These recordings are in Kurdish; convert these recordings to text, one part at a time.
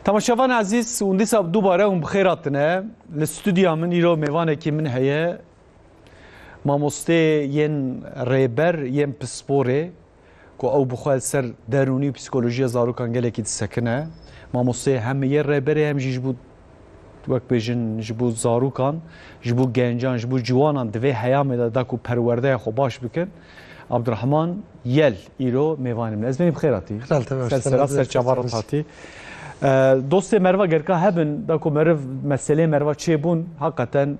Temaşevan ezîz hûn dîsa dubare hûn bixêr hatine li stûdya min îro mêvanekî min heye mamostê yên rêber yên pisporê ku ew bi xwe ser derûnî û psîkolojiya zarokan gelekî disekine mamostê hem yê rêberê hem jî ji bo wek bêjin ji bo zarokan, ji bo gencan, ji bo ciwanan di vê heyamê de da ku perwerdeya xwe baş bikin. Abdurrahman Yel îro mêvanê min. Ez benî bixêr hatî. Ser sera ser çava rit hatî. Dostê merva gerka hebin da ku meriv meselê merva çêbûn haqeten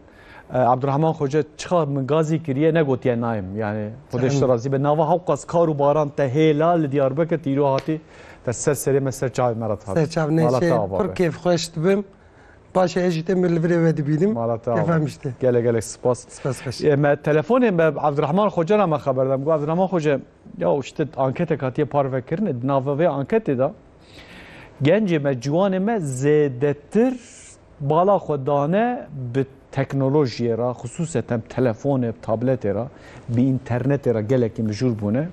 Abdurahman Xoca çiqar min gazî kiriye ne gotiye nayim yani Xwedê ji te razî be nava hewqas kar û baran te hêla li Diyarbekir te îro hatî te ser serê me ser çavê me re dihat. Ser çav ne şey pir kêf xweş dibim. Baş e ez jî te min li virê we dibînim. Mala te ava. Gelek gelek spas. Spas xweş. E, me telefonê me Abdurahman Xoca ra me xeber dam. Got Abdurahman Xoca ya işte anketek hatiye parve kirine. Nava vê anketê da Gencê me, ciwanê me zêdetir bala xwe dane bi teknolojiyê re, xisûseten telefonê, tabletê re, bi înternetê re gelekî mijûl bûne.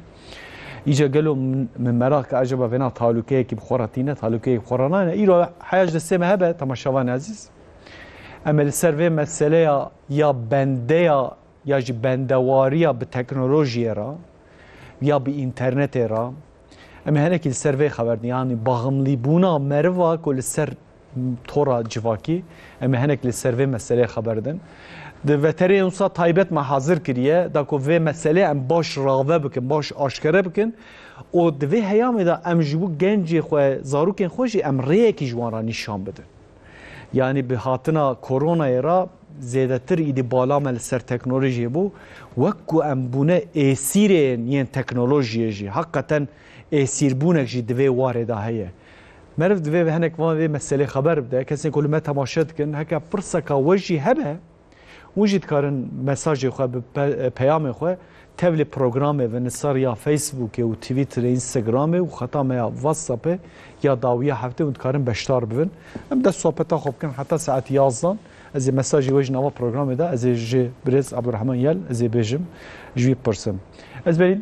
Îca gelo min meraq ke acaba vêna talûkeyekî bi xwe re tîne, talûkeyekî bi xwe re nayne. Îro heya ji destê me hebe temaşevanê ezîz. Em ê li ser vê meseleya ya bendeya ya jî bendewariya bi teknolojiyê re ya bi înternetê re, Em ê henekî li ser vê xeber yanî baxmlîbûna meriva ku li ser tora civakî em ê henek li ser vê meselê xeber din. Di veterê wisa taybet me hazir kiriye da ku vê meselê em baş rave bikin, baş aşkere bikin û di vê heyamê de em ji bo gencê xwe, zarokên xwe jî em rêyekî ji wan re nîşan bidin. Yanî bi hatina koronayê re zêdetir îdî bala me li ser teknolojiyê bû. Wek ku em bûne êsîrên yên teknolojiyê jî heqeten êsîrbûnek jî di vê warê de heye. Meriv divê hinek van vê meselê xeber bide, kesên ku li me temaşe dikin heke pirseka we jî hebe, Hûn jî dikarin mesajê xwe bi peyamê xwe tevlî programê ve nisar ya Facebookê û Twitterê, Instagramê û xeta me ya WhatsAppê ya dawiya heftê hûn dikarin beşdar bibin. Em dest sohbeta xwe bikin heta saet yazdan. Ez ê mesajê wê ji nava programê de ez ê ji birêz Abdurrahman Yel ez ê bêjim ji wî bipirsim. Ez berî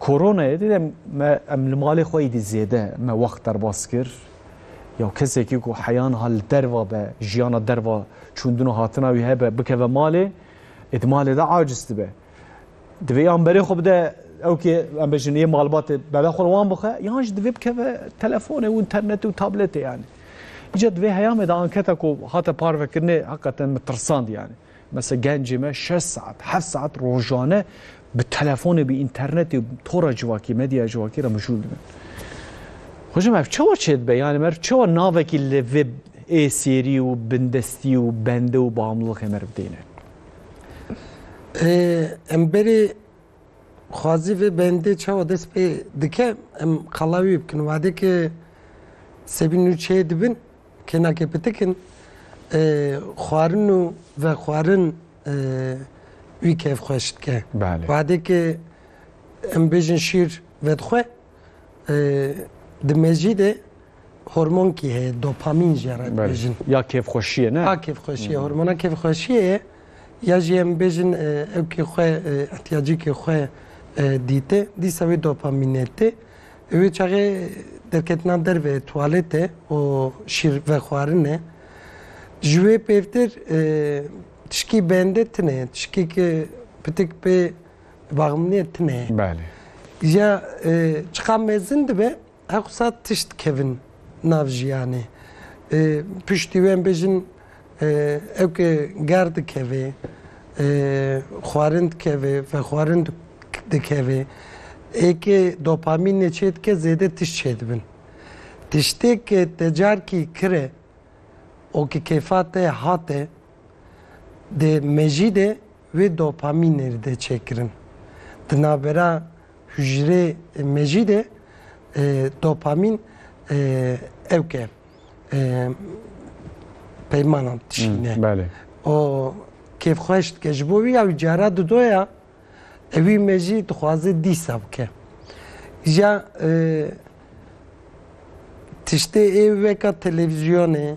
Koronayê dide me em li malê xwe êdî zêde me wext derbas kir. Ya kesekî ku heya niha li derva be, jiyana derva çûndin û hatina wî hebe bikeve malê, ê di malê de aciz dibe. Divê yan berê xwe bide ew kê em bêjin yê malbatê berê xwe li wan bixe yan jî divê bikeve telefonê û înternetê û tabletê yanî. Îca divê heya me de anketa ku hate parvekirinê heqeten min tirsand yanî. Mesela gencê me şeş saet, heft saet rojane bi telefonê, bi internetê, tora civakî, medyaya civakî re mijûl dibin. Xwecim ev çawa çê dibe? Yani mer çawa navekî li vê êsêrî û bindestî û bende û bamlixê mer bidêne? Em berê xwazî vê bendê çawa dest pê dike em qala wî bikin. Wadê ki sebî nû çê dibin Kênakê pitik in, xwarin û vexwarin wî keyf xweş dike. Wadê ke em bêjin şîr vedixwe, di mejî de hormonkî heye, dopamîn jî re dibêjin. Ya kêfxweşiyê ne? Ya kêfxweşiyê, hormona kêfxweşiyê ye. Ya jî em bêjin ew kê xwe ihtiyacîkê xwe dîte, dîsa wê dopamînê tê. Ew ê çaxê derketina derve tuwalete û şîr vexwarine. Ji wê pêvtir e, tişkî bende tune ye. Tişkî ki pitik pê baxminiye tune ye. Belê. Ya e, çiqa mezin dibe hewqsa tişt kevin nav jiyanê. E, piştî wê em bêjin Ew ke ger dikeve, xwarin dikeve, vexwarin dikeve, êkê dopamînê çêdike zêde tişt çêdibin. Tiştê ke te carkî kire û ki kêfa te hate dê mejî de Wê dopamînê de çêkirin. Di navbera hûcrê mejî de dopamîn ew ke peymanan dişîne. O kêfxweş dike ji bo wî ya wî cara didoya ewî me jî dixwaze dîsa bike. Ja tiştê ê weka televîzyonê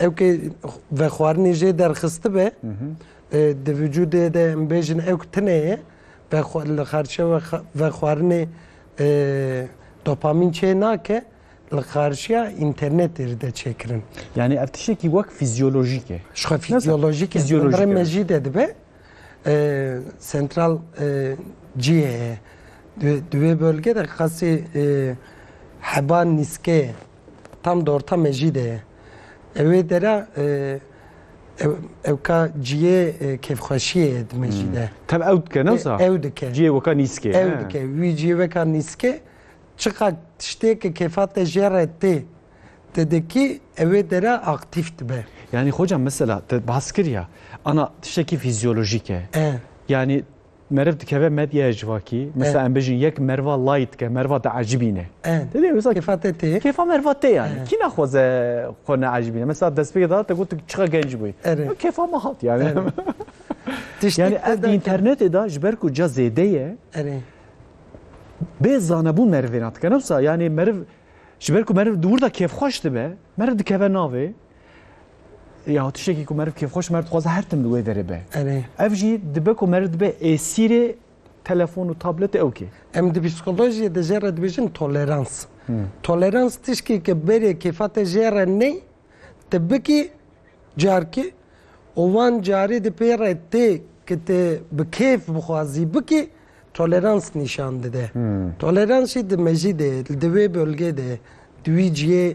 Ew ke vexwarinê jê derxistibe di vücudê de em bêjin ew tine ye li xarçe vexwarinê dopamîn çê nake li xarçiya înternetê de çêkirin. Yanî ev tiştekî wek fîzyolojîk e. Şixwe fîzyolojîk e rê me jî de dibe sentral cihê ye. Di wê belge de qasê heba nîske ye. Tam di orta mejî de ye. Ew ê dera ew ka ciyê kêfxweşiyê ye di mejî de. Tem ew dike newsa? Ew dike. Ciyê weka nîskê. Ew dike. Wî ciyê weka nîskê çiqa tiştêke kêfa te jê re tê te dikî ew ê dera aktîf dibe. Yanî xoca mesela te bas kiriya ana tiştekî fîzyolojîk e. Yanî Meriv dikeve medyaya civakî, mesela em bijîn yek meriva lay dike, meriva diecibîne. Tedê wisa kêfa te tê. Kêfa meriva tê yani. Kî naxwaze xwe neecibîne. Mesela destpêkê de te got çiqa genc bûyî. Kêfa me hat yani. yani ev di internetê de ji ber ku ca zêde ye. Bê zanebûn merivê ne dike. Ne wisa yani meriv ji ber ku meriv di wir de kêfxweş dibe, meriv dikeve navê. Ya tiştekî ku meriv kêfxweş mer dixwaze her tim li wê derê be. Ev jî dibe ku meriv dibe êsîrê telefon û tabletê ew kê. Em di psîkolojiyê de jê re dibêjin tolerans. Tolerans tiştêke berê kêfa te jê re ney, te bikî carkî û wan carî di pê re tê ku tu bi kêf bixwazî bikî tolerans nîşan dide. Tolerans jî di mejî de ye, di wê bölgê de ye, di wî cihê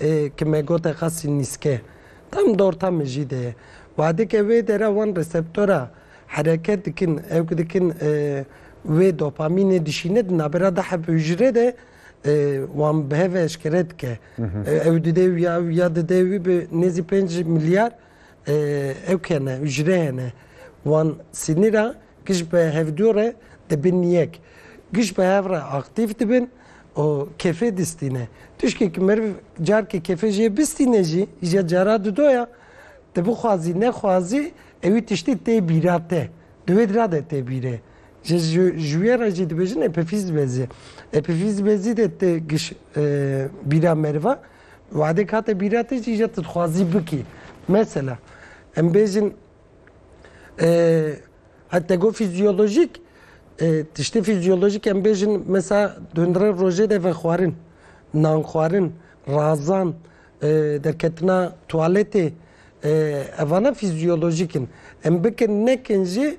Ê ke me gote qasî nîske tam dorta min jî de ye. Wadike wê dere wan reseptora hereket dikin, ew ku dikin wê dopamînê dişîne di navbera da heb hûcre de wan bi hev eşkere dike. Ew didê wî ya ew ya didê wî bi nêzî pênc milyar ew hene, hûcre hene. Wan sinîra Giş bi hevdu re dibin yek. Giş bi hev re aktîf dibin û kêfê distîne. Tişkê ki meriv carkê kêfê jê bistîne jî îje cara di do ya. Tu bixwazî nexwazî ewî tiştî tê bîra te. Di wê dira de tê bîrê. Ji ji wê re jî dibêjin epîfîz bezî. Epîfîz bezî de ti giş bîra meriva wadek hate bîra te jî îje tu dixwazî bikî. Mesela em bêjin Ee, te got fizyolojik, tiştê fizyolojik em bêjin mesela dundre rojê de vexwarin, nan xwarin, razan, derketina tuwaletê evana fizyolojik in. Em bikin nekin jî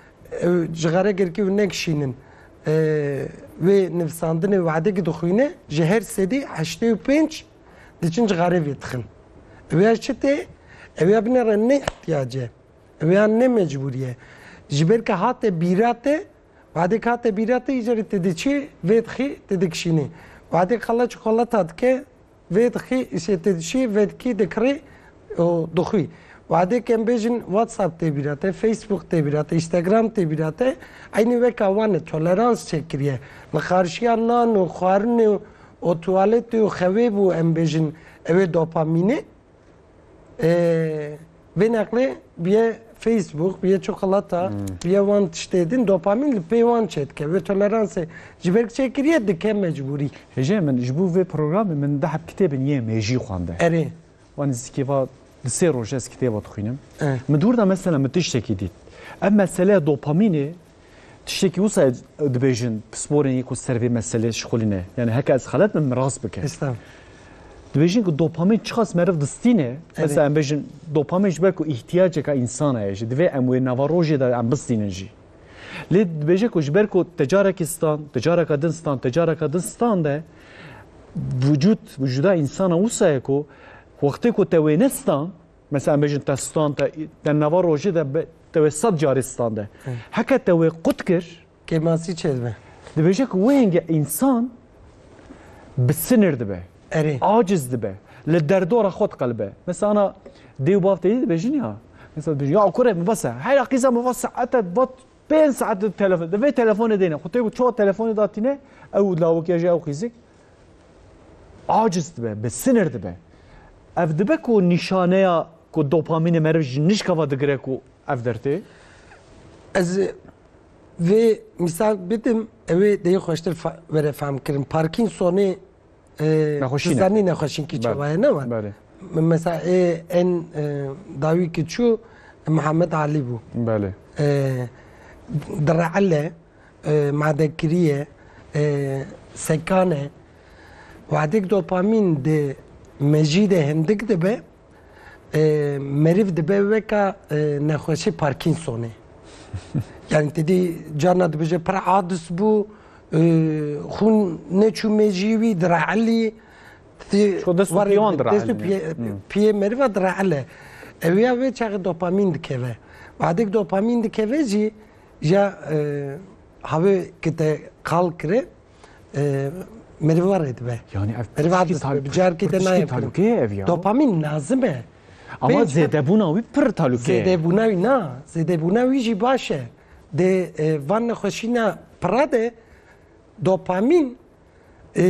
Ew cixare girkî û neng şîn in. Wê nivîsandinê Wehdekî dixwîne ji her sedî heştê û pênc diçin cixare vêdixin. Ew ya çi tê? Ew ya bine re ne îhtîyac e. Ew ya ne mecbûrî ye. Ji ber ke hate bîra te, wehdek hate bîra te îcarî te dê çi vêdixî te dikişînî. Wehdek xelat ji xelata dike Vêdixî îşê tê dişî, vêdikî dikirî û dixwî. Wadê kem bêjin WhatsApp tê bîra te, Facebook tê bîra te, Instagram tê bîra te, eynî weka wan e, tolerans çêkiriye. Li qarşiya nan û xwarinê û tuwaletê û xewê bû em bêjin ew ê dopamînê. Vê neqlê biyê Facebook, biyê çikolata, biyê wan tiştê din dopamîn li pê wan çêdike. Wê toleransê ji ber çêkiriye dike mecbûrî. Hêjê min ji bo vê programê min deheb kitêbin yên mêjî xwende. Erê. Wan nizîkê va di sê roj ez kitêba dixwînim. Min dûr da mesela min tiştekî dît. Ev meseleya dopamînê Tiştekî wisa dibêjin pisporên yê ku ser vê meselê şixulîne. Yani heke ez xelet bim rast bike. Dibêjin ku dopamîn çiqas meriv distîne. Mesela em bêjin dopamîn ji ber ku îhtiyaceka însan heye jî divê em wê nava rojê de em bistînin jî. Lê dibêje ku ji ber ku te carekî stan, te careka din stan, te careka din stan de vücut, vücuda insana wisa ye ku wextê ku te wê nestan Mesela em bêjin te stan te te nava rojê de te wê sed carê stan de. Heke te wê qut kir. Kêmasî çê dibe. Dibêje ku wê hêngê însan bi sinir dibe. Erê. Aciz dibe. Li derdora xwe diqelibe. Mesela ana dê û bav têdî dibêjin ya. Mesela dibêjin ya kurê min vese. Hera qîza min va saete va pênc saet telefon. Di vê telefonê dêne. Xwe tê ku çawa telefonê datîne ew lawikê ji ew qîzik. Aciz dibe, bi sinir dibe. Ev dibe ku nîşaneya ku dopamînê meriv ji nişkava digire ku ev dertê? Ez vê mîsal bidim ewê deyê xweştir were fehmkirin. Parkinsonê zanî nexweşîn kî çawaye ne wa. Mesela ê en dawî ki çû Mihemed Alî bû. Belê. Direele madegkiriyê, sekan e. Wexdek dopamîn di mejî de hindik dibe, meriv dibe weka nexweşê Parkinsonê. Yani te dî carna dibêje pir adis bû, xûn neçû mejî wî, direelî. Dest û piyan direelî. Dest û piyê meriva direele. Ew ya wê çaxê dopamîn dikeve. Wexdek dopamîn dikeve jî Ja havê ki te qal kire merivarê dibe. Yani ev merivar dibe. Bi carkê te nayê. Talukeye ev ya. Dopamin lazim e. Ama zêdebûna wî pir talukeye. Zêdebûna wî na. Zêdebûna wî jî baş e. Dê van nexweşîna pira de dopamin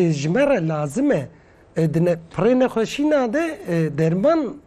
ji me re lazim e. Di pirê nexweşîna de derman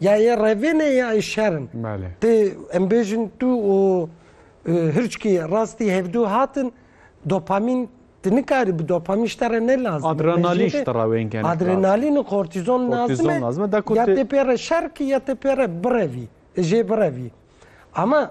Ya yê revê ne ya yê şer in. Belê. Tê em bêjin tu û e, hirçkî rastî hevdû hatin dopamîn tu nikarî bi dopamîn ji te re ne lazim. Adrenalîn ji te re wên kenik lazim. Adrenalîn û kortîzon Kortîzon lazim lazim e. e, da ku Ya tê- tê pê re şer kî ya tê pê re birevî. Jê birevî. Ama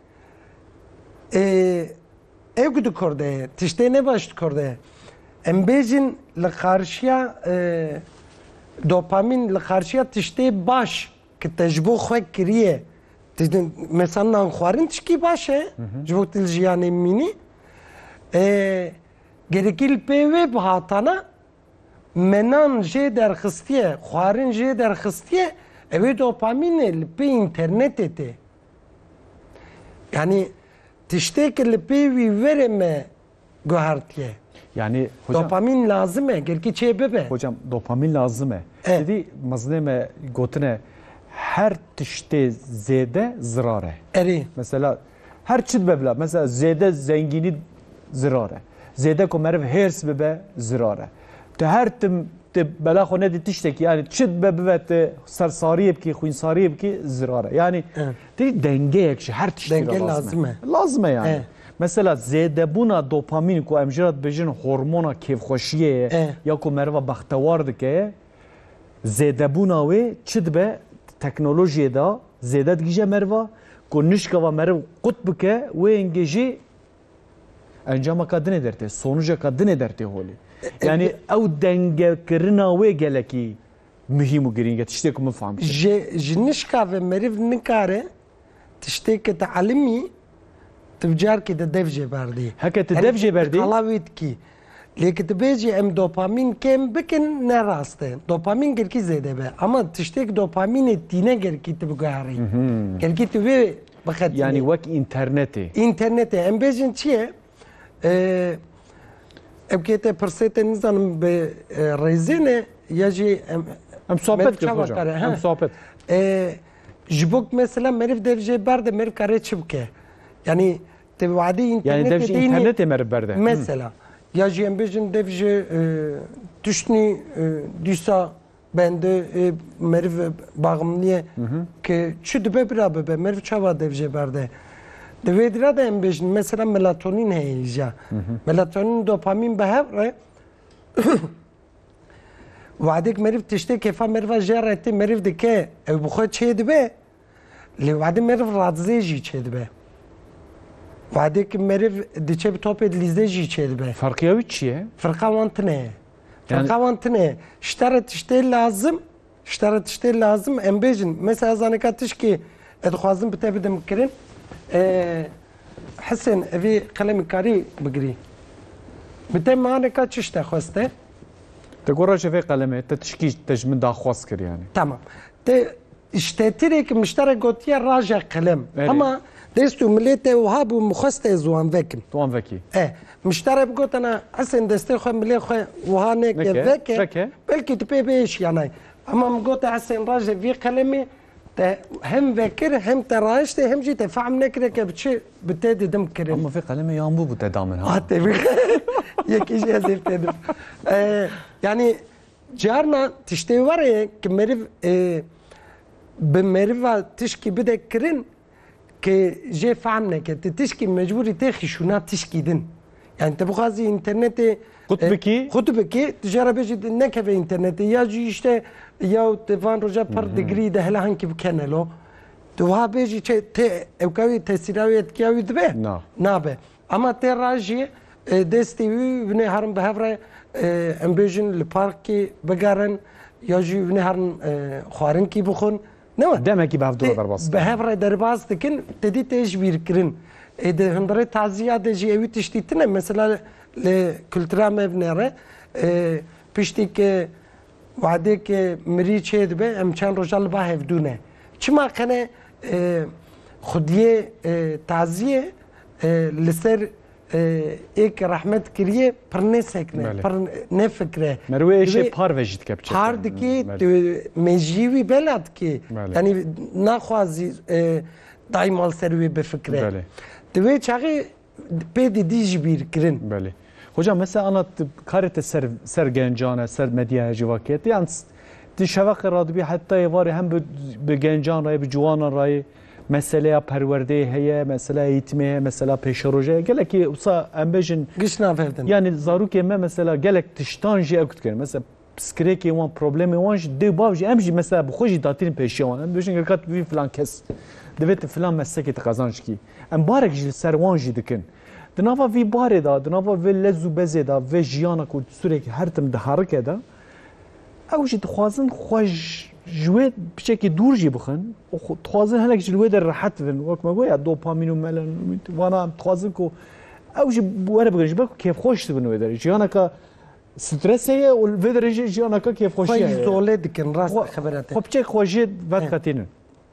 Ê ew ku di kor de ye tiştê ne baş di kor de ye. Em bêjin li qarşiya dopamîn li qarşiya tiştê baş ki te ji bo xwe kiriye mesela nan xwarin tişkî baş e ji bo tu li jiyanê bimînî. Gerekî li pê wê bihatana me nan jê derxistiye, xwarin jê derxistiye ew ê dopamînê li pê înternetê tê. Yanî tiştê ki li pê wî verê me guhertiye. Yani hocam, dopamin lazım e, gerki çê bibe. Hocam dopamin lazım e. Evet. Dedi mezne me gotine her tişte zede zirare. Eri. Mesela her çit bebla. Mesela zede zengini zirare. Zede ko merv hers bibe zirare. Tu her tim tu bela xwe nedî tiştekî yanî çi dibe bibe tu sersariyê bikî xwînsariyê bikî zirar e yanî tê dengeyek ji her tiştekî lazim e lazim e yanî Mesela zêdebûna dopamîn ku em jira dibêjin hormona kêfxweşiyê ye ya ku meriva bextewar dike zêdebûna wê çi dibe teknolojiyê de zêde digije meriva ku nişkava meriv qut bike wê hingê jî Encama ka dinê dertê, sonuca ka dinê dertê holê. Yani ew denge kirina wê gelekî muhîm û girîng e tiştê ku min fam kir. Ji ji nişka ve meriv nikare tiştê ke ti elimî ti bi carkê de dev jê berdê. Heke ti dev jê berdê. Qala wî dikî. Lê ki tu bêjî em dopamîn kêm bikin ne rast e. Dopamîn girkî zêde be. Ama tiştêk dopamînê tîne girkî tu biguherî. Girkî tu wê bixetinî. Yanî wek înternetê. Înternetê em bêjin çi ye? Ew kê te pirsê te nizanim bi rêzê ne ya jî em Em sohbet kir hocam. Em sohbet. Ji bo mesela meriv dev jê berde meriv kare çi bike? Yanî Te wadê internetê dînî mesela ya jî em bêjin dev ji tiştî dîsa bendi ê meriv baxmliyê ke çi dibe bira bibe meriv çawa dev jê berde. Di vê dira de em bêjin mesela melatonîn heye îja melatonîn dopamîn bi hev re wadêk meriv tiştê kêfa meriva jê re tê meriv dike ew bi xwe çê dibe Lê wadê meriv radzê jî çêdibe. Wadê ki meriv diçe bi topê dilîzdê jî çêdibe. Ferqiya wî çi ye? Firqa wan tine ye. Firqa wan tine ye. Ji te re tiştê lazim, ji te re tiştê lazim em bêjin. Mesela zaneka tişkê ez dixwazim bi te bidim kirin. Hesen evê qelemê karî bigirî. Bi te maneka çi ji te xweste? Te gora ji vê qelemê te tişkî te ji min daxwaz kir yanî. Tamam. Te ji tetirêk mişterek gotiye raje qilem. Hema dest û milê te wiha bû min xwest ez wan vekim. Tu wan vekî. E, miştere bigotina Hesên destê xwe milê xwe wiha neke veke, veke. belkî tu pê bihêşiya nayê. Hema min gote Hesên raje vî qilemê te hem vekir hem te rayiştê hem jî te fehm nekire ke bi çi bi te didim kirin. Hema vê qilemê yan bû bû te da min ha. Hatê vê yekî jî ez ê vê te dim. E, yanî Carna tiştê were ye ki meriv ê bi meriva tişkî bide kirin ki jê fehm neke. Ti tişkî mecbûrî tê xîşûna tişkî din. Yani te bixwazî înternetê Xut e, bikî? Xut bikî, tu jê re bêjî tu nekeve înternetê ya jî îşte ya tu van roja par degree de hela hinkî bikenelo. Tu wiha bêjî çi tê ewka wî tesîra wî etkiya wî dibe? Na. Nabe. Ema tê ra jî destê wî winê herin bi hev re em bêjin li parkê bigerin ya jî winê herin xwarinkî bixwin. Newe. Demekî bi hev dûre derbas dikin. Bi hev re derbas dikin, te dî tê ji bîr kirin. Ê di hundirê taziya de jî ewî tiştî tune. Mesela li kultura me vine re piştî ke wadêke mirî çê dibe em çend roja li ba hevdû ne. Çima kene xwediyê taziyê li ser ê ke rehmet kiriye pirnêsek ne pir nefikre. Merwê êşê par ve jî dike biçe. Par dikê mejî wî bela dikê. Yanî naxwazî dayî mal ser wê bifikre. Di wê çaxê pê didî ji bîr kirin. Belê. Hoca mesela ana karê te ser ser gencan e ser medyaya jî va kete yan di şeveqê radibî hetayê varê hem bi gencan rayê bi ciwanan rayê Meseleya perwerdeyê heye, meseleya eğîtimê heye, mesela pêşerojê heye. Gelekî wisa em bêjin Giş naverdin. yanî zarokên me mesela gelek tiştan jî ew dikevin. Mesela piskirekê wan, problemê wan jî dê û bav jî em jî mesela bi xwe jî datînin pêşiya wan. Em dibêjin geleka tu bibî filan kes. Divê tu filan meslekê tu qezanc bikî. Em barek ji li ser wan jî dikin. Di nava vî barê de, di nava vê lez û bezê de, vê jiyana ku sûrekî her tim diherike de, Ew jî dixwazin xwe ji wê piçekî dûr jî bixin û dixwazin hinek ji li wê de rehet bibin. Wek me goya dopamîn û melanîn vana em dixwazin ku ew jî were bigrin ji ber ku kêfxweş dibin wê derê. Jiyaneke strese ye û vê derê jî jiyaneke kêfxweşiya ye. Xwe îzole dikin rast dixebirete. Xwe piçek xwe jê vedqetînin.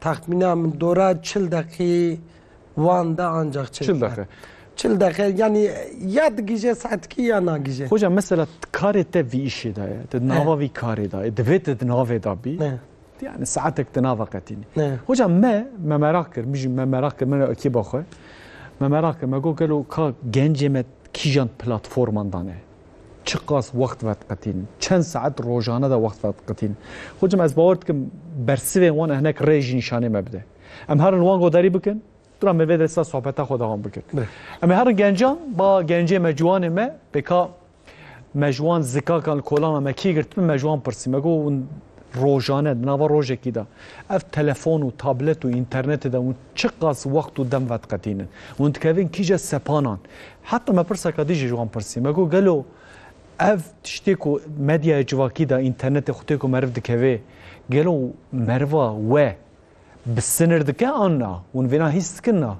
Taxmîna min dora çil deqî wan de ancak çil deqî. Çil deqî yanî ya digije saetkî ya nagije. Hoca mesela karê te vî îşê de ye. Te nava vî karê de ye. Divê te di navê de bî. Yani saetek di nava qetînî. Hoca me me merak kir, mijî me merak kir, min re ekîba xwe. Me merak kir, me got gelo ka gencê me kîjan platforman dane. Çiqas wext vediqitîn, çend saet rojane de wext vediqitîn. Xwecim ez bawer dikim bersivên wan hinek rê jî nîşanê me bide. Em herin wan godarî bikin, dura me vê de sa sohbeta xwe dewam bikin. Em ê herin gencan, ba gencê me ciwanê me, pêka me ji wan zikakan li kolana me kî girtibin, me ji wan pirsî, me got hûn rojane di nava rojekî de ev telefon û tablet û înternetê de hûn çiqas wext û dem vediqetînin? Hûn dikevin kîje sepanan? Heta me pirseka din jî ji wan pirsî, me got gelo ev tiştê ku medyaya civakî de, înternetê xwe tê ku meriv dikevê, gelo meriva we bi sinir dike an na? Hûn vêna hîs dikin na?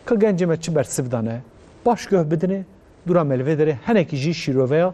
Ka gencê me çi bersiv dane? Baş guh bidine, dûra me li vê derê henekî jî şîroveya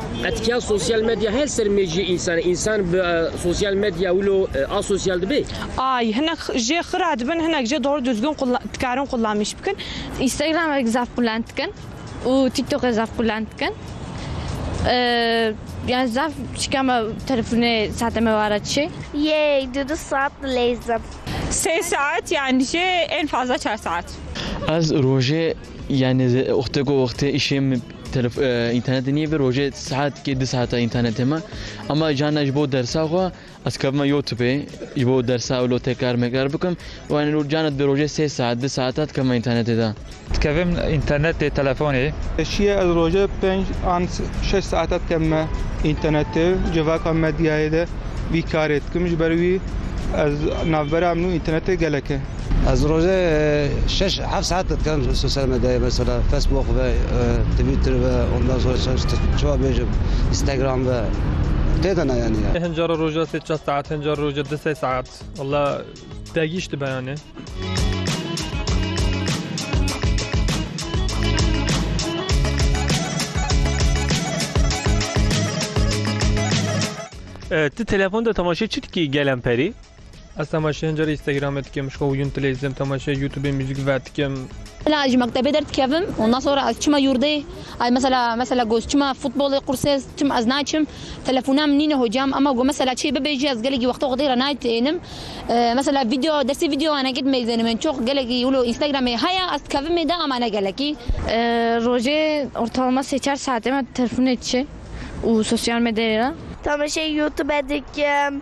Etkiya sosyal medya her ser meciyê însanê. Însan bi sosyal medya wilo asosyal dibe? Ay, hinek jê xira dibin, hinek jê dor duzgin dikarin qullamîş bikin. Instagram'ek zaf qullan dikin û TikTok'ê zaf qullan dikin. Yani zaf şikama telefonê saate me wara çi? Yey, du du saat dileyzim. Sê saat yani jê en fazla çar saat. Ez rojê Yani oxte ku oxte işê min telef- e, internetê nîyê ve rojê saetkê di saeta internetê me. Ama cana ji bo dersa xwe ez kevime YouTubeê ji bo dersa wilo tekrar mekrar bikim. Û yani ro- cana di rojê sê saet di saeta dikevime internetê de. Dikevim internetê telefonê. Şiyê ez roje pênc an şeş saeta dikevime internetê civaka medyayê de vî karê dikim. Ji ber wî ez navbera min û internetê gelek e. Ez rojê şeş heft saet dikerim sosyal medyayê mesela Facebook ve Twitter ve ondan sonra çawa bêjim Instagram ve tê de neyanî ya. Hin cara roja sê çar saet hin cara roja du sê saet walla degîş dibe yanê. Tu telefon de temaşe çi dikî gel em perî? Ez temaşeyê hin carê Instagramê dikim, ji xwe wiyûn tileyzim, temaşeyê YouTubeê muzîk ve dikim. Mela ez ji mektebê derdikevim, ondan sonra ez çima yurdê, ez mesela mesela got çima futbolê qursê çima ez naçim, telefona min nîne hocam ema got mesela çê bibêjî ez gelekî wexta xwedê re naytênim. Mesela video destê videoyanekî dimeyzêne min çok gelekî wilo Instagramê heye ez dikevim mêde ema ne gelekî. Rojê ortalama sê çar saetê me telefonê diçe û sosyal medyayê re. Temaşeyê Youtube dikim.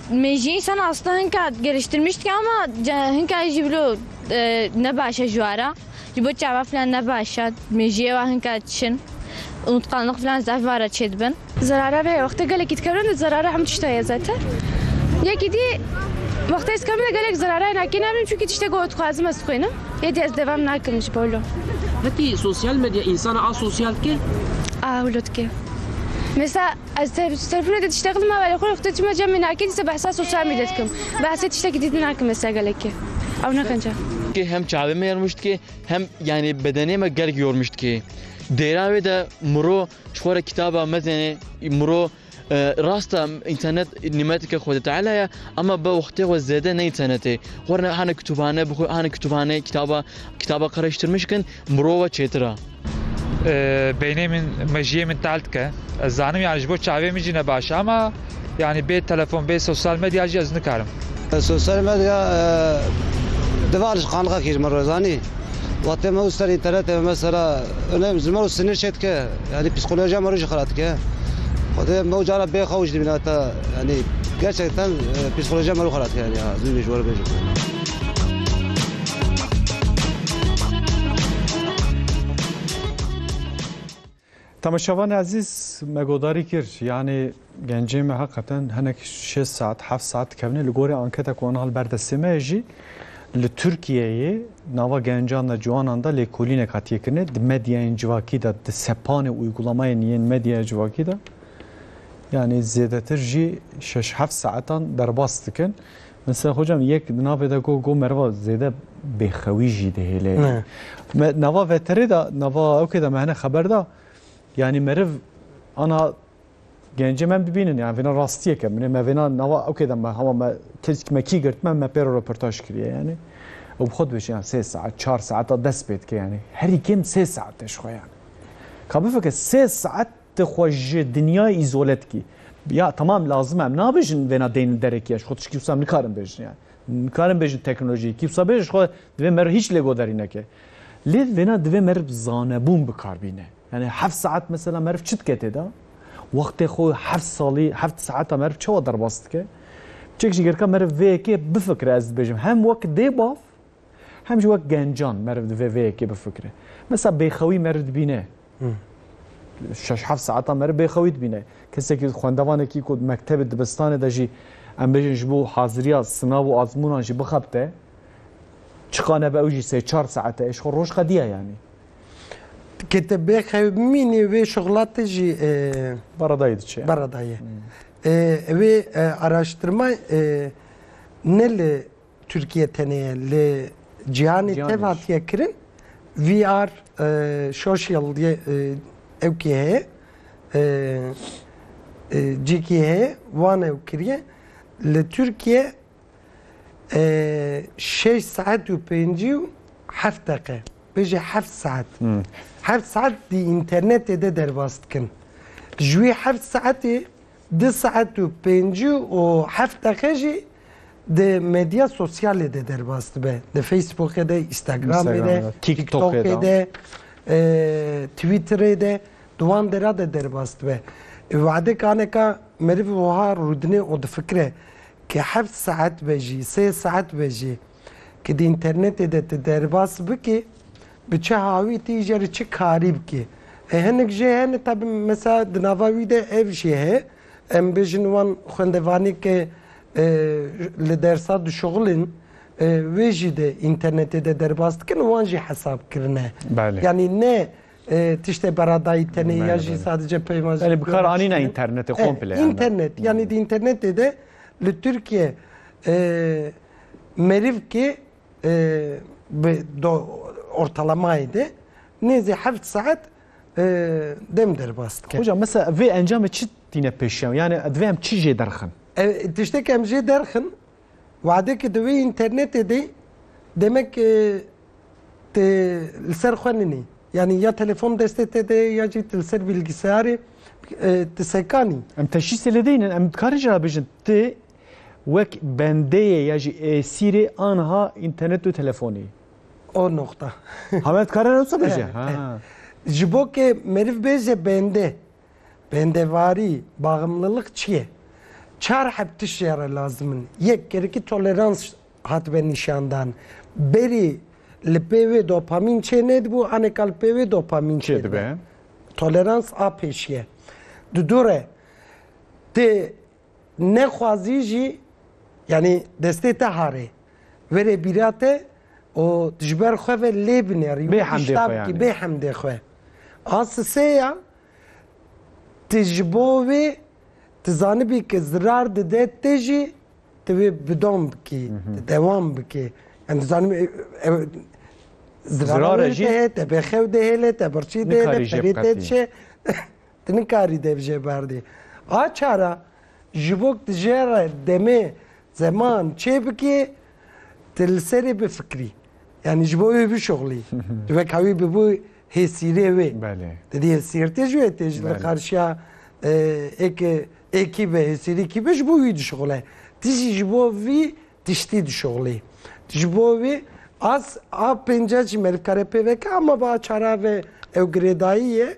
Mêjiyê sen asta hinka geliştirmiş dike ama hinka jî bilo ne baş e ji wara. Ji bo çava filan ne baş e. Mêjiyê wa hinka çin. Unutqanlıq filan zaf vara çêdibin. Zerare re wextê gelekî dikevin de zerare hemû tişta ye zete. Yekî dî wextê ez kevim de gelek zerareyê nakê nabînim çunkî tiştê ku dixwazim ez dixwînim. Yê dî ez devam nakim ji bo lo. Hetî sosyal medya însana asosyal dike? A wilo dike. Mêsa. Ez telefonê de tiştekî dima berê xwe rixte çima cemê nakê dîsa behsa sosyal medya dikim. Behsê tiştekî dîtin nakim li ser gelekê. Ew ne qenc e. Hem çavê me yormiş dike hem yanî bedenê me gelek yormiş dike. Dêra wê de miro ji xwe re kitaba mezene miro rast e înternet nîmeteke Xwedê Teala ye ema bi wextê xwe zêde ne înternet ê. Xwe re hane kitûbane bixwe hane kitûbane kitaba kitaba qereştirmiş bikin. Mirova çêtir a. Beynê min mejiyê min tel dike. Ez zanim yanî ji bo çavê min jî ne baş e ama yanî bê telefon bê sosyal medya jî ez nikarim. Sosyal medya divar ji qanîxa kir miro zanî. Wextê miro ser înternetê me mesela neyêm ji miro sinir çê dike yanî psîkolojiya miro jî xira dike. Xwedê miro cara bê xew jî dimîne heta yanî gerçekten psîkolojiya miro xira dike yanî ha zû jî ji we re bêjim. Tamaşavan Aziz me godarî kir yanê gencê me heqeten hinek 6 saat 7 saat dikevne li gorê anketa ku anhal berdestê me jî li Tirkiyeyê nava gencan da ciwanan da lêkolînek hatiye kirine di medyayên civakî da di sepanê uygulamayên yên medyaya civakî da yanê zêdetir jî 6 7 saetan derbas dikin Mesela hocam yek di navê de got got meriva zêde bêxewî jî dihêle. Me nava veterê de nava ewkê de me hene xeber da yanî meriv ana gencê me bibînin yani vêna rastiyeke min me vêna nava ewkê de me hema me tirk me kî girtme me pêro röportaj kiriye yani. û bi xwe dibêjin yan sê saet çar saeta dest pê dike yanî herî kêm sê saet te ji xwe yani. Ka bifikir sê saet Tu xwe ji dinyayê îzole dikî. Ya tamam lazim e em nabêjin vêna deynin derekî ya ji xwe tiştî wisa em nikarin bêjin yani. Nikarin bêjin teknolojiyê kî wisa bêje ji xwe divê meriv hîç lêgoderî neke. Lê vêna divê meriv zanebûn bikar bîne. Yani heft saet mesela meriv çi dike têda? Wextê xwe heft salî heft saeta meriv çawa derbas dike? Çek ji gerika meriv vê yekê bifikire ez dibêjim hem wek dê bav Hem jî wek gencan meriv di vê vê yekê bifikire. Mesela bêxewî meriv dibîne. Şeş heft saetan meriv bêxewî dibîne. Kesekî xwendevanekî ku mektebê dibistanê de jî em bêjin ji bo haziriya sinav û azmûnan jî bixebite. Çiqa nebe ew jî sê çar saete êş xwe roj qediya yanî. Kê te bêxewî bimînî wê şixla te jî beredayê diçe. Beredayê. Wê araştirma ne li Tirkiye tenê li cîhanê Cîhanê tev jî. hatiye kirin. VR e, social diye e, ew kê heye. E, e, cîkî heye wan ew kiriye. Li Tirkiye e, şeş saet û pêncî û heft deqe. Bêje heft saet. Heft saet di înternetê de derbas dikin. Ji wî heft saetê du saet û pêncî û heft deqe jî Di medya sosyalê de derbas dibe. Di Facebookê de, Instagramê de, TikTokê de, Twitterê de di wan dera de derbas dibe. Wade kaneka meriv wiha rûdine û difikire ki heft saet be jî, sê saet be jî ki di înternetê de tu derbas bikî bi çi hawî tî jê re çi karî bikî. Hinek jê hene tabi mesela di nava wî de ev jî heye Em bêjin wan xwendevanî ke li dersa dişuxilin wê jî de înternetê de derbas dikin wan jî hesab kirine. Yanî ne tiştê beradayî tenê ya jî sadece peyma bi kar anîne înternetê komple. Înternet yanî di înternetê de li Tirkiye merivkê bi ortalamayê de nêzî heft saet dem derbas dike. Hocam mesela vê encamê çi tîne pêşiyan yani divê em çi jê derxin? Tiştek em jê derxin wadekê di wê internetê de demek te li ser xwe ninî. Yani ya telefon destê te de ya jî li ser bilgisayarê ti sekanî. Em teşîsê lê deynin em dikarê jî rabêjin ti wek bendeyê ya jî êsîrê anha internet û telefonê. O noxta. Hamet kare ne tabi je. Ji bo ke meriv bêje bende, bendevarî, baximlilik çi ye? Çar heb tişt ya re lazim in. Yek, gerekî tolerans hatibe nîşandan. Berî li pê wê dopamîn çê nedibû, anêka li pê wê dopamîn çê dibe. Tolerans a pêşiye. Di dû re ti Nexwazî jî yanî destê te harê verê bîra te û ji ber xwe ve lê binerî wî tişta bikî bê hemdê xwe. A sisê ya ti ji bo wê ti zanibî ke zirar dide te jî ti wê bi dom bikî ti dewam bikî yan tu zanibî ew zirara wê li te ye te bêxew dihêle te birçî dihêle perê te diçe Tu nikarî dev jê berdê. A çara ji bo ku tu jê re demê, zeman çê bikê, tu li serê bifikirî. Yanî ji bo wê bişuxulî. Tu weka wî bibû hêsîrê wê. Belê. Tu dê hêsîrtê ji wê tê ji li qarşiya êkê êkî be, hêsîrî kî be ji bo wî dişuxule. Tu jî ji bo vî tiştî dişuxulî. Tu ji bo wî a a pênca jî me nikare pê veke ama bi a çara ve ew girêdayî ye.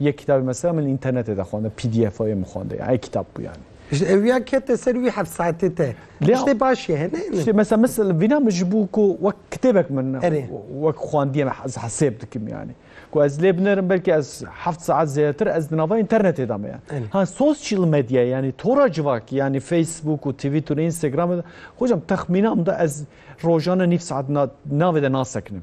Yek kitabê mesela min li înternetê de xwende PDF'ê min xwende ya ey kitap bû yani. Ji ewiya kete ser wî heft saetê te. Lê Tiştê baş ye hene. Tiştê mesela mesela vîna min ji bû ku wek kitêbek min Erê. wek xwendiye me ez hesêb dikim yani. Ku ez lê binerim belkî ez heft saet zêdetir ez di nava înternetê de me ya. Erê. Ha sosyal medya yani tora civakî yani Facebook û Twitter û Instagramê de hocam texmîna min de ez rojane nîv saet na navê de nasekinim.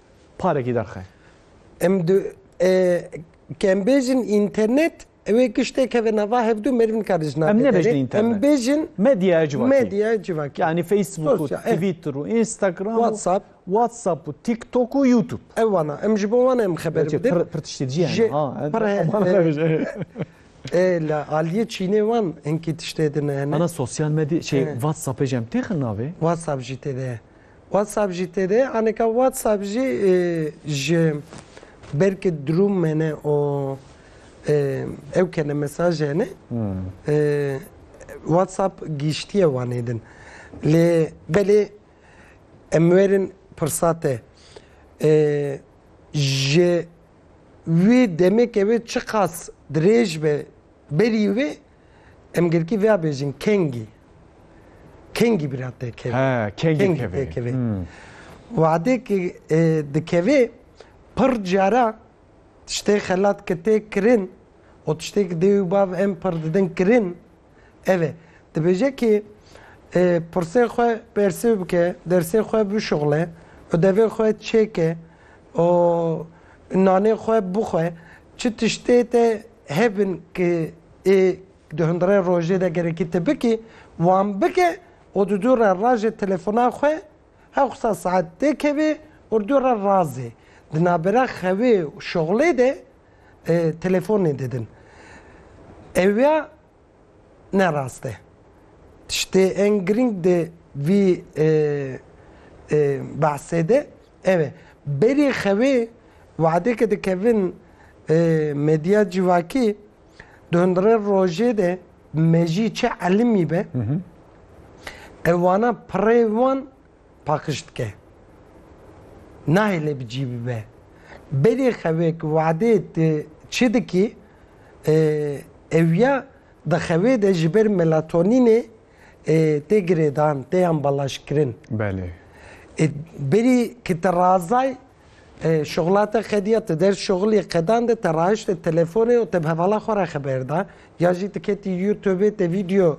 parekî derxe. Em du e, kem bêjin internet Ewê kiştek heve nava hevdu merv nikare ji navê Em nebêjin internet. Em bêjin medyaya civakî. Medyaya civakî. Yani Facebook û Twitter û Instagram WhatsApp WhatsApp û TikTok û YouTube. Ew wana em ji bo wana em xeber bidin. Pir tiştê dijî yani. Ha. Pir E la aliyê Çînê wan hinkî tiştê din hene. Ana sosyal medya şey WhatsApp ê jem têxin navê. WhatsApp jî tê de ye. WhatsApp jî tê de anêka WhatsApp jî ji ber ke drûm mene û ew ke ne mesaj hene WhatsApp gihîştiye wanê din. Lê belê em werin pirsa te ji wê demê ke wê çiqas dirêj be berî wê Em girkî vêya bêjin kengî. Kengî bira têkevê. He, kengî têkevê. Hmm. Wadêkî e, dikevê pir cara tiştê xelat ki tê kirin û tiştê ki dê û bav em pir didin kirin ev e. Dibêje ki e, pirsê xwe persê bike, dersê xwe bişuxle, odevê xwe çêke û nanê xwe bixwe, çi tiştê te Hebin ki ê di hundirê rojê de gerekî te bikî wan bike û di dû re rajê telefona xwe hewqisa saet tê kevê û dû re razê. Di navbera xewê û şoxlê de telefonê didin. Ewya ne rast e. Tiştê en giring di vî behsê de ew e. Berê xewê wadeke dikevin medya civakî di hundirê rojê de mejî çi elimî be ew wana pirê wan paqij dike. Nahêle bi cî bibe. Berê xewê ki wadê tu çi dikî ew ya di xewê de ji ber melatonînê tê girêdan, tê ambalajkirin. Belê. Berî ki te razay şixula te xediya tu der şixulê qedan de te raişte telefonê û te bi hevala xwe re xeber da ya jî tu ketî youtubê te vîdeo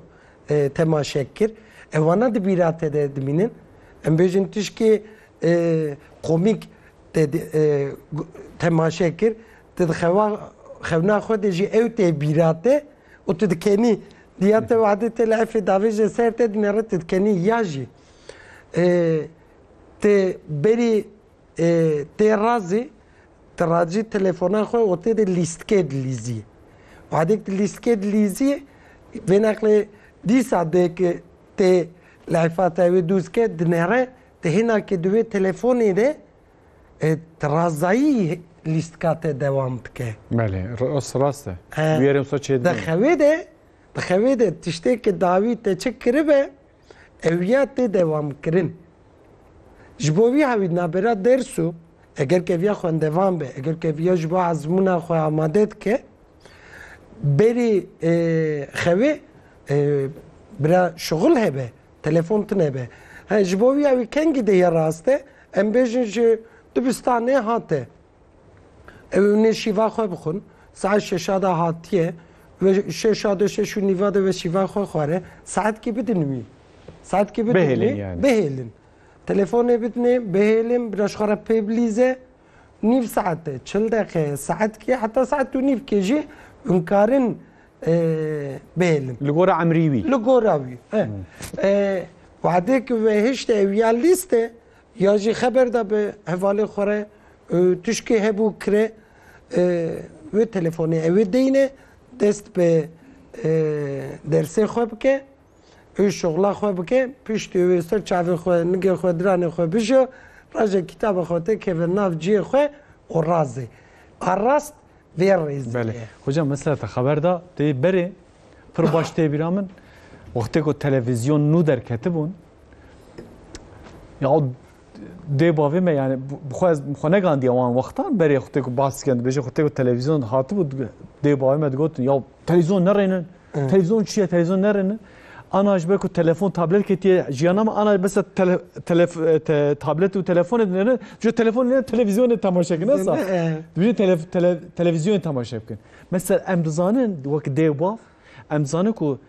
temaşe kir. Ev wana di bîra te de dimînin. Em bêjin tişkê komîk te temaşe kir. Ti di xewa xewna xwe de jî ew tê bîra te û tu dikenî. Diya te wade te li efê davêje ser te dinere tu dikenî ya jî. Ti berî Ê tê razê ti racî telefona xwe û tê de lîstkê dilîzî. Wadêk ti lîstkê dilîzî vê neqlê dîsa dê ki tê leyfa te wê dûz ke dinere ti hêna ki di wê telefonê de ti razayî lîstka te dewam bike. Belê rast rast e. Bûyerên xwe çêdibin. Di xewê de di xewê de tiştê ki dawî te çi kiribe ew ya tê dewamkirin. Ji bo vî hewî nabera derso eger keviya xwendevan be, eger keviya ji bo ezmûna xwe amade dike, berî xewê bira şixul hebe, telefon tunebe. He ji bo vî hewî kengî de ya raste em bêjin ji dibistanê hate. Ew û nê şîva xwe bixwin. Saet şeşa de hatiye ve şeşa de şeş û nîva de ve şîva xwe xware. Saetkî bidin wî. Saetkî bidin wî. Bihêlin yani. Bihêlin. Telefonê bidinê, bihêlin, bira ji xwe re pêbilîze. Nîv saet de, çil deqe, saetkî heta saet û nîvkê jî hûn karin e, bihêlin. Li gora emrî wî. Li gora wî. e. E, Wadê ki ve hişte ew ya lîste Ya jî xeber da bi hevalên xwe re tişkê hebû kire wê telefonê ewê deyne dest bi dersê xwe bike û şixla xwe bike piştî wê ser çavê xwe nigê xwe diranê xwe bijo raje kîtaba xwe te keve nav ciyê xwe û razê a rast vê rêzê ye. Hocam mesela te xeber da tê berê pir baş tê bîra min wextê ku televîzyon nû derketibûn Ya dê bavê me yani xwe negandiye wan wextan berê xutê ku bas dikin dibêje xutê ku televîzyon hatibû dê bavê me digotin ya televîzyon nerênin televîzyon çi ye televîzyon nerênin ana ji ber ku telefon tablet ketiye jiyana me ana bes tablet û telefonê dinêrin ji telefon ne televîzyonê temaşe kin esa dibêje televîzyonê temaşe bikin mesela em dizanin wek dê bav em dizanin ku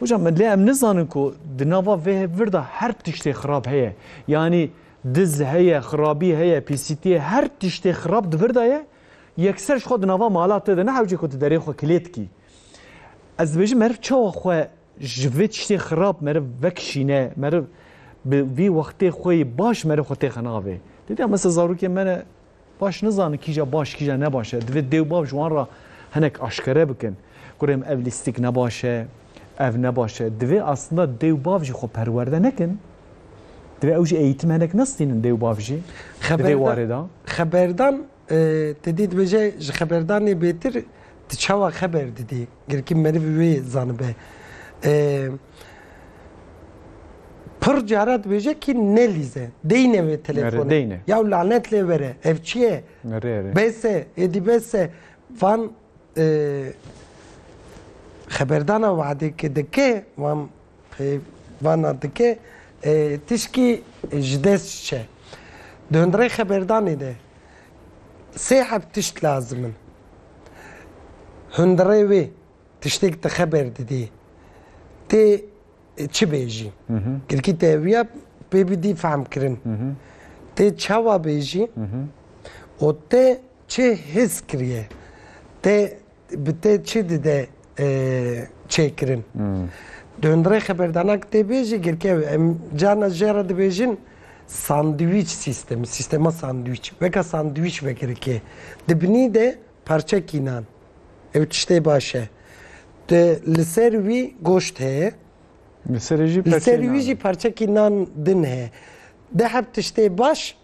Hocam lê em nizanin ku di nava vê vir de her tiştê xirab heye. Yanî diz heye, xirabî heye, pîsîtî heye, her tiştê xirab di vir de ye. Yekser ji xwe di nava mala te de ne hewcê ku tu derê xwe kilê dikî. Ez dibêjim meriv çawa xwe ji vê tiştê xirab meriv vekişîne, meriv bi vî wextê xwe yê baş meriv xwe têxe navê. Dîtiya mesela zarokê me ne Baş nizanin kîja baş kîja ne baş e. Divê dê û bav ji wan re hinek aşkere bikin. Kurê min ev lîstik ne baş e, ev ne baş e. Divê aslında dê û bav jî xwe perwerde nekin. Divê ew jî eğîtim hinek nestînin dê û bav jî di vê warê de. Xeberdan, te dî dibêje ji xeberdanê bêtir Tu çawa xeber didî? Girkî meriv wê zanibe. Pir cara dibêje kî ne lîze. Deyne wê telefone. Ya lanet lê vere. Ev çi ye? Bese, êdî bese. Van xeberdana Wadê ke dike, wan Peyvana dike tişkî ji dest çe. Di hundirê xeberdanê de sê heb tişt lazim in. Hundirê wê tiştêk di xeber didê tê çi bêjî. Tirkî teviya pê bidî fehmkirin. Tê çawa bêjî û tê çi his kiriye. Tê Bi te çi dide çêkirin? Döndrê xeberdana ki tê bê jî girkev e. Em carna jê re dibêjin sandwîç sîstemi, sîstema sandwîç. Weka sandwîç vekirike. Di binî de parçekî nan. Ew tiştê baş e. Di li ser wî goşt heye. Li serê jî parçekî nan. Li serê wî jî parçekî nan din heye. Deh heb tiştê baş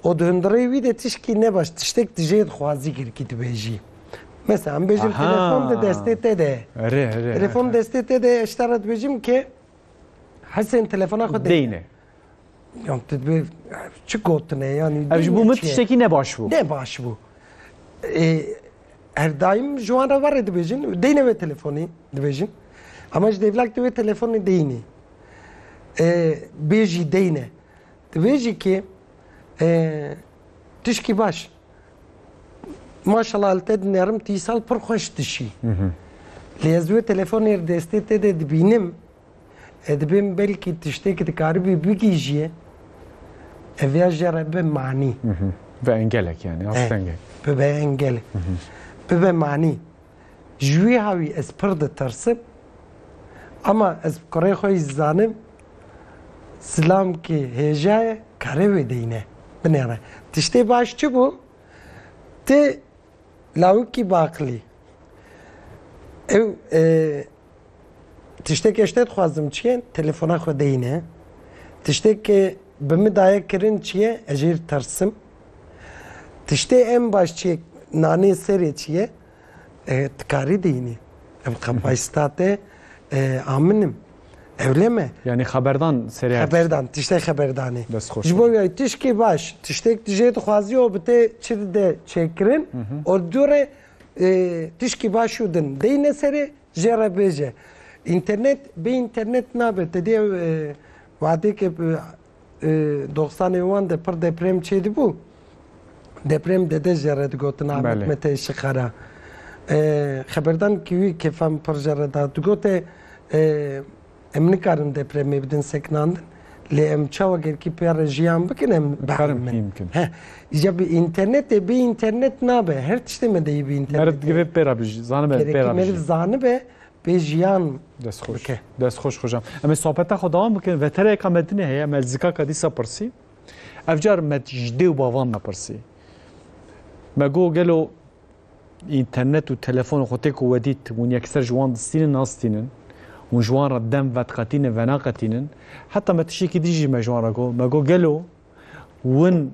O di hundirê wî de tişkî nebaş tiştek di jê dixwazî girkî dibêjî. Mesela em bêjim telefon di destê te de. Telefon destê te de ji te re dibêjim ke hesên telefona xwe deyne. Yan tu dibê çi gotine yanî. Ev ji bo min tiştekî nebaş bû. Nebaş bû. Her daîm ji wan re verê dibêjin deyne wê telefonî dibêjin. Ama ji devlak di wê telefonê deyînî. Bêjî deyne. Di vê jî kê tişkî baş. Maşallah li te dinerim tîsal pir xweş dişî. Lê ez wê telefonê li destê te de dibînim e dibê min belkî tiştêk dikaribî bigîjiyê ev ya jê re bi manî. Bi engelek yani astengek. Bibe engelek. Bibe manî. Ji wî hawî ez pir ditirsim ama ez kurê xwe jî zanim Silam ki hêja ye karê wê deyne binêre. Tiştê baş çi bû? Ti lawikî baqilî. Ew e, tişteke ji te dixwazim çi ye? Telefona xwe deyne. Tişteke bi min daye kirin çi ye? Ez jê tirsim. Tiştê em baş çi ye? Nanê serê çi ye? Tikarî dînî. Ev xepa state aminim. Ewlê me. Yanî xeberdan serê. Xeberdan, tiştê xeberdanê. Ji bo wî tişkî baş, tiştêk tu jê dixwazî û bi te çi dide çêkirin û li dû re tişkî baş û din deyne serê jê re bêje. Înternet bê înternet nabe te dê wadêke Doxsanê wan de pir deprem çêdibû. Deprem dede jere digotin Ahmet Mete Şixara. Xeberdan ki wî kêfem pir jere da. Digote em nikarin depremê bidin sekinandin. Lê em çawa gerkî pêre jiyan bikin em biherimin. Îja bi înternetê bê înternnet nabe. Her tiştê me de yê bi înternetê. Meriv divê pêre bijî. Zanime pêre bijî. Meriv zanibe Pê jiyan bike. Dest xoş xocam. Em ê sohbeta xwe devam bikin. Vetereyeka Medinê heye me zikaka dîsa pirsî. Ev car me ji dê û bavan me pirsî. Me got gelo internet û telefon xwe tê ku wedît hûn yekser ji wan distînin nastînin. Hûn ji wan re dem vetqetînin venaqetînin. Heta me tiştekî dijî me ji wan re got. Me got gelo win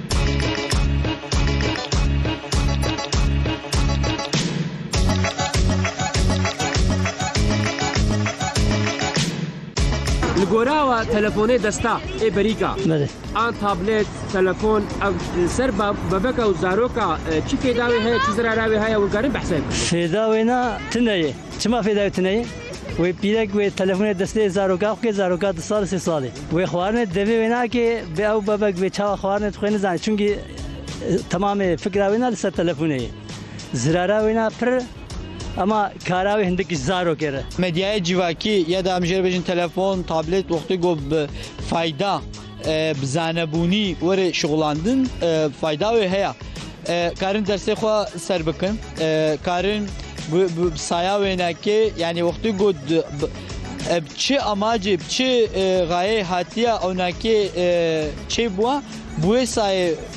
Li gora we telefonê desta ê berîka. Bele. An tablet, telefon ev e, ser ba- bebeka û zaroka e, çi fêdawê heye, çi zerarê heye û karin behsê. Fêda wêna tine ye. Çima fê dayê tu neyê? Wê pîrek wê telefonê destê zaroka xwe kê, zaroka du sal sê salê. Wê xwarinê devê wê nake, bê ew bebek bê çawa xwarinê dixwe nizane çunkî temamê fikra wê na li ser telefonê ye. Zirara wê na pir ema kara wê hindik ji zarokê re. Medyaya civakî ya da em jê re bêjin telefon, tablet wextê got bi fayda. Bi zanebûnî were şixulandin fayda wê heye. Karin dersê xwe ser bikin. Karin bi saya wênekê yanî wextê got ev çi amacê çi gayê hatiye ewnakê çêbûwa bi wê sayê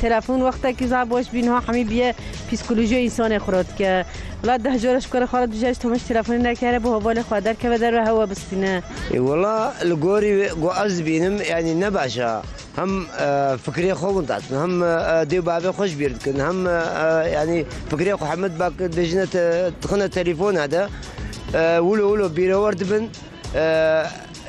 Telefon wextekî za boş bî niha hemî bîye psîkolojiya însanê xirab dike. Wila deh cara ji kar xwe re dûje ji Tomaş telefonê nekere bo hevalê xwe derkeve derve hewa bistîne. Wila li gorî wê ku ez dibînim yanî ne baş e. Hem fikirê xwe winda dikin hem dê û bavê xwe ji bîr dikin hem yanî fikirê xwe hemû dibêjine dixine telefona de wilo wilo bîrewr dibin.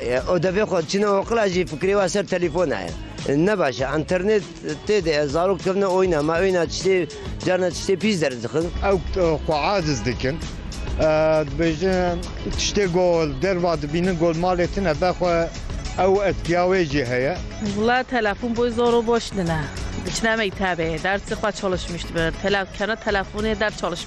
Ew devê xwe diçine oqila jî fikirê we ser telefona ye. Ne baş e. Înternêt tê de ye. Zarok dikevne oyna. Me oyna tiştê carna tiştê pîs derz dixin. Ew xwe aciz dikin. Dibêjin tiştê ku li derva dibînin ku li malê tune be xwe ew etkiya wê jî heye. Wila telefon boy zor û boş din e. Diçine mektebê. Dersê xwe çalışmîşt bi. Tele kena telefonê ders çalışmîşt.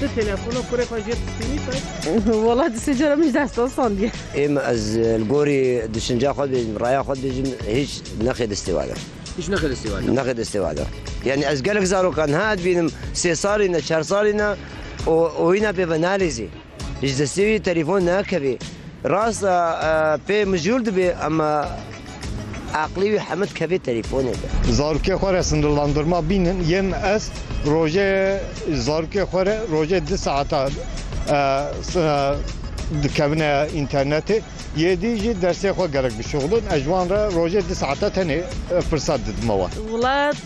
Ti telefona kurê xwe jê pişînî tay? Wala di sê cara min ji destan sandiye. Êm ez li gorî düşünca xwe dibêjim, raya xwe dibêjim hîç nexê destê wada. Hîç nexê destê wada. Nexê destê wada. Yanî ez gelek zarokan ha dibînim sê salî ne çar salî ne û oyîna pê ve nalîzî. Ji destê wî telefon nakevî. Rast e pê mijûl dibê em Aqlê wî hemed kevê telefone de. Zarokê xwe re sinirlandirma bînin yên ez rojê zarokê xwe re rojê di saeta dikevine înternetê yê dî jî dersê xwe gerek bişuxulin ez ji wan re rojê di saeta tenê pirsa didime wan. Wlat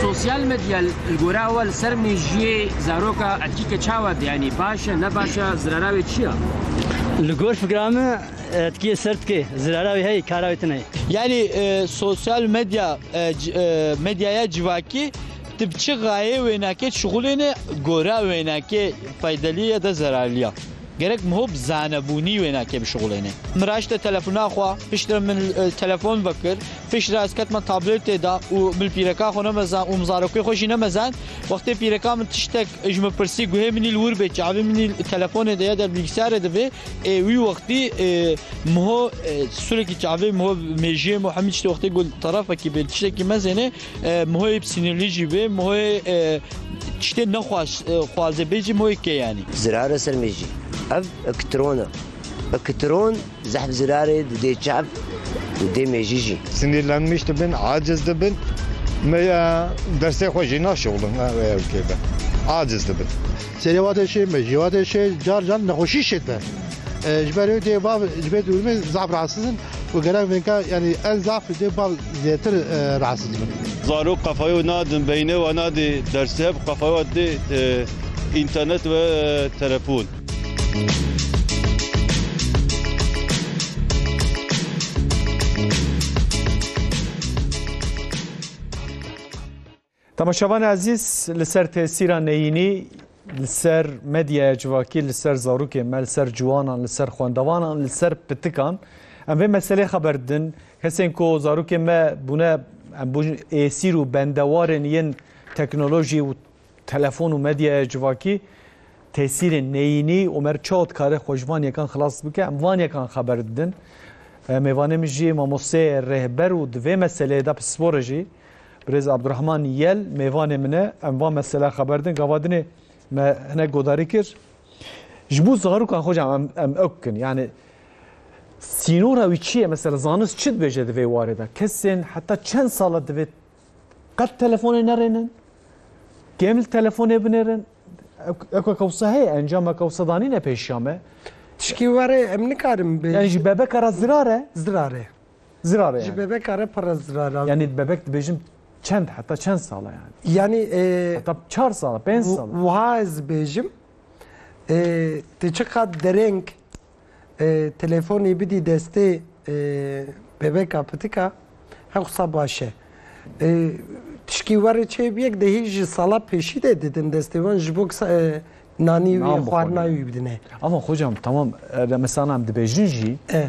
Sosyal medya li gorî we li ser mejiyê zaroka etkî ke çawa diyanî? Baş e, ne baş e, zirara wê çi ye? Li gor fikira min. Tkiyê ser dike, zirara wê heye, kara wê tune ye. Yanî sosyal medya medyaya civakî tu bi çi gayê wênekê şixulêne gora wênekê feydelî ye de zerarlî ye. Gerek miho bi zanebûnî wênekê bişixulêne. Min raşte telefona xwe, pişt re min telefon vekir, pişt re ez ketime tablêtê de û min pîreka xwe nemezan û min zarokê xwe jî nemezan. Wextê pîreka min tiştek ji min pirsî guhê min î li wir bê, çavê min î telefonê de ye der bîlgisayarê de bê, Ê wî wextî Miho sûrekî çavê Miho mêjiyê Miho hemî tiştê wextê ku tarafekî bê tiştekî mezêne Mihoyê bi sinirlî jî bê Mihoyê tiştê nexweş xwaze bê jî Mihoyê kê yanî. Zirare ser mêjî ev ikitron e. Ikitron zehf zirarê didê çav û dê mêjî jî. Sinirlenmiş dibin, aciz dibin. Meya dersê xwe jî naşewilin ew kê be. Aciz dibin. Serê wate şê, mejiyê wate şê, car car nexweşî şê te. Ji ber wê dê bav ji bê dûrmê zaf rasis in û gerek vênka yanî en zaf dê bav zêtir rasis bin. Zarok qefayê wê nadin beynê we nadê dersê hev qefayê we didê înternet ve telefon. Temaşevanê ezîz li ser tesîra neyînî li ser medyaya civakî, li ser zarokên me, li ser ciwanan, li ser xwendevanan, li ser pitikan em vê meselê xeber didin. Kesên ku zarokên me bûne em bûn êsîr û bendewarên yên teknolojî û telefon û medyaya civakî tesîrên neyînî û mer çawa dikare xwe ji van yekan xilas bike em van yekan xeber didin. Mêvanê min jî mamosteyê rêhber û di vê meseleyê de pisporê jî Birêz Abdurahman Yel mêvanê min e. Em van mesela xeber din gava dinê me hinek godarî kir. Ji bo zarokan xwe cam em em ew bikin. Yani sînora wî çi ye mesela zanist çi dibêje di vê warê de. Kesên heta çend sala divê qet telefonê nerênin. Kêm li telefonê binêrin. Eko kewsa heye encama kewsa danîne pêşiya me. Tişkî were em nikarim bê. Yani ji bebeka re zirar e. Zirar e. Zirar e Ji yani. bebeka re pir re zirar e. Yanî bebek dibêjim çend heta çend sal e yani. Yanî e, Heta çar sal e, pênc sal e. wi- wiha ez dibêjim e, tu çiqat dereng e, telefonê bidî destê e, bebeka pitika hewsa baş e. E, Tişkî werê çê biyek de hîj ji sala pêşî de didin destê wan ji bo kisa- e, nanî Nan wî bixwe xwarina yani. wî bidine. Ama hocam tamam e, remesana em dibêjin jî E.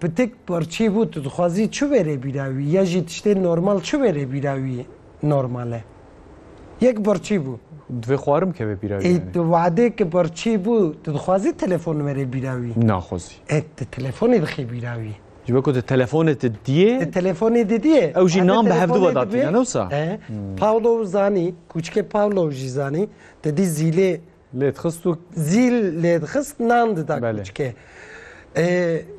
Pitik parçeyê bû tu dixwazî çi wêrê bîra wî ya jî tiştê normal çi wêrê bîra wî normal e. Yek parçeyê bû. Divê xwarim keve bîra wî Ê yanî. tu wadêke parçeyê bû tu dixwazî telefon wêrê bîra wî. Naxwazî. Ê tu telefonê dixê bîra wî. Ji ber ku tu telefonê te diyê. Tu telefonê te diyê. Ew jî nan bi hevdu ve datîne ne wisa? He. Paolo zanî, kûçikê Paolo jî zanî, te dî zîlê. Lêdixist û. Zîl lêdixist nan dida kûçikê.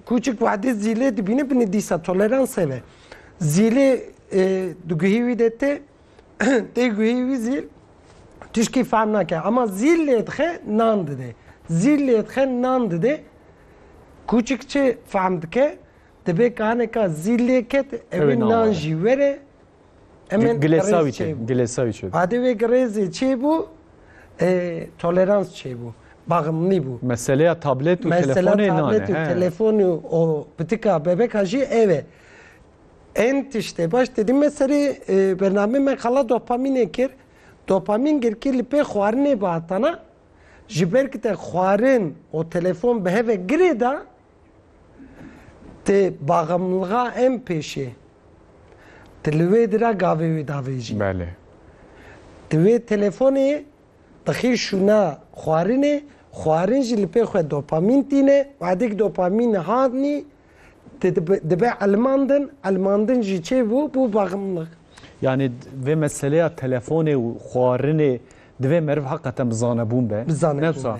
Kûçik wehdî zîlê dibîne binê dîsa toleransê ve. Zîlê di guhî wî de tê, tê guhî wî zîl tişkî fehm nake. Ema zîl lêdixe nan dide. Zîl lêdixe nan dide kûçik çi fehm dike? Dibe ka hineka zîl lê ket evê nan jî were Hemen Gilesavî çê bû. Gilesavî çê bû. Adê wê girêzê çê bû, e, tolerans çê bû. Baxımlî bû. Meseleya tablet û Mesela telefonê nane. tablet û he. telefonî û o pitika bebeka jî ev e. En tiştê baş dedî me serê e, bernameyê me xala dopamînê kir. Dopamîn girkî li pê xwarinê bi hatana. Ji ber ku te xwarin û telefon bi heve girê da, Tê baxemlga em pêşê. Ti li wê di re gavê wî davêjî. Belê. Di wê telefonê dixî şûna xwarinê, xwarin jî li pê xwe dopamîn tîne, wadêk dopamîn hatnî ti dibe elmandin, elmandin jî çê bû, bû baxemlig. Yani vê meseleya telefonê û xwarinê divê meriv heqeten bi zanebûn be. Bi zanebûn be.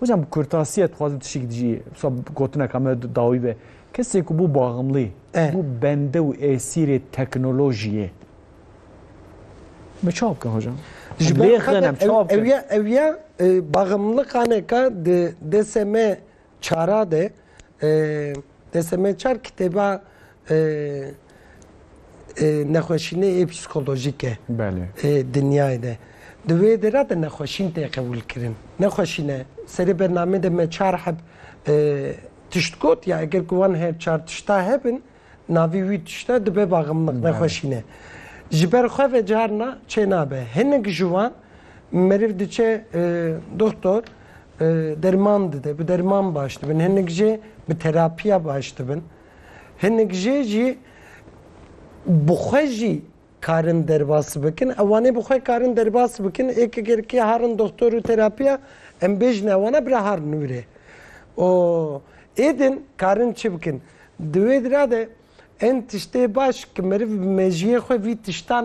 Hocam bi kurtasiye dixwazim tişik dijî wisa gotineka me dawî be. Kesê ku bû baximlî, bû bende û êsîrê teknolojiyê. Me çawa bikin hocam? Ji ber xenem çawa bikin? Ewiya ewiya baximlikaneka di desê me çara de desê me çar kitêba Nexweşînê ê psîkolojîk e ê dinyayê de. Di wê dê re de nexweşîn tê qebûlkirin. Nexweşîn e. Serê bernameyê de me çar heb tişt got ya eger ku wan her çar tişta hebin navî wî tişta dibe baxmliq, nexweşîn e. Ji ber xwe ve carina çênabe. Hinek ji wan meriv diçe doxtor derman dide, bi derman baş dibin. Hinek jê bi terapiya baş dibin. Hinek jê jî bi xwe jî karin derbas bikin. Ew anê bi xwe karin derbas bikin. Ê ki gerkê harin doktor û terapiya em bêjin ewana bira har nûrê. O êdin karin çi bikin? Di wê dira de en tiştê baş ki meriv bi mejiyê xwe vî tiştan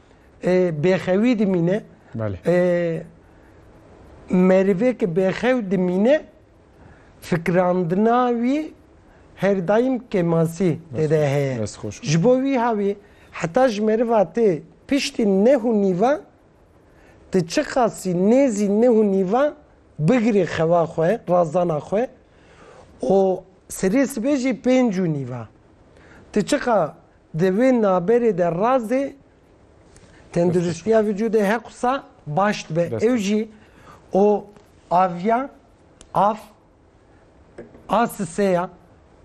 e, bêxewî dimîne. Belê. E, merivêke bêxew dimîne fikrandina wî her daîm kemasî têde heye. Dest xweş. Ji bo wî havî heta ji meriva tê piştî nehû nîva ti çi qasî nêzî nehû nîva bigirê xewa xwe, razdana xwe û serê sibê jî pêncû nîva. Ti çiqa Di vê naberê de razê tenduristiya vücudê heqsa baş dibe. Ew jî o aviya af a siseya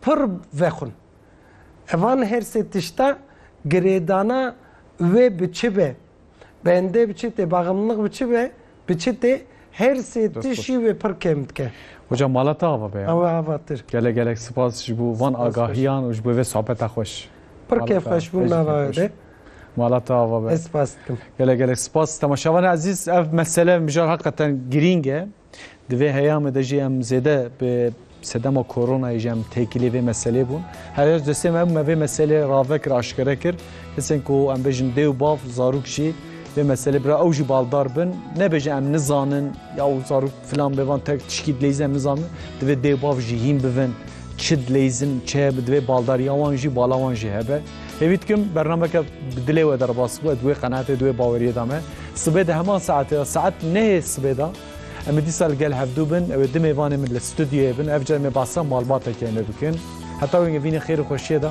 pir vexwin. Evan her sê tişta girêdana wê bi çi be? Bendê bi çi tê, baxemnix bi çi be, bi çi tê, her sê Dest xweş. tişî wê pir kêm dike. Hocam mala te ava be ya. Ew e avatir. Gelek gelek spas ji bo van Spas xweş. agahiyan û ji bo vê sohbeta xweş. Pir Mala te kêf ava. xweş bû Ejî nava kêf we xweş. de. Mala te ava be. Ez spas dikim. Gelek gelek spas. Temaşevanê ezîz ev mesele mijar heqeten girîng e. Di vê heyamê de jî em zêde bi sedema koronayê jî em têkilî vê meselê bûn. Herêz destê me me vê meselê rave kir aşkere kir. Kesên ku em bêjin dê û bav zarok jî vê meselê bira ew jî baldar bin nebêje em nizanin ya û zarok filan bêvan tek tişkî dileyîz em nizanin divê dê bav jî hîn bivin çi dileyîzin çi hebe divê baldariya wan jî bala wan jî hebe. Hêvî dikim bernameke bi dilê we derbas bû di wê qenaetê di wê baweriyê de me. Sibê de heman saetê ya saet nehê sibê de em ê dîsa li gel hevdû bin ew ê di mêvanê min li studyoyê bin ev car em ê basa malbateke me bikin. Heta wê vînê xêr û xweşiyê de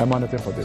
emanetê xwe dê.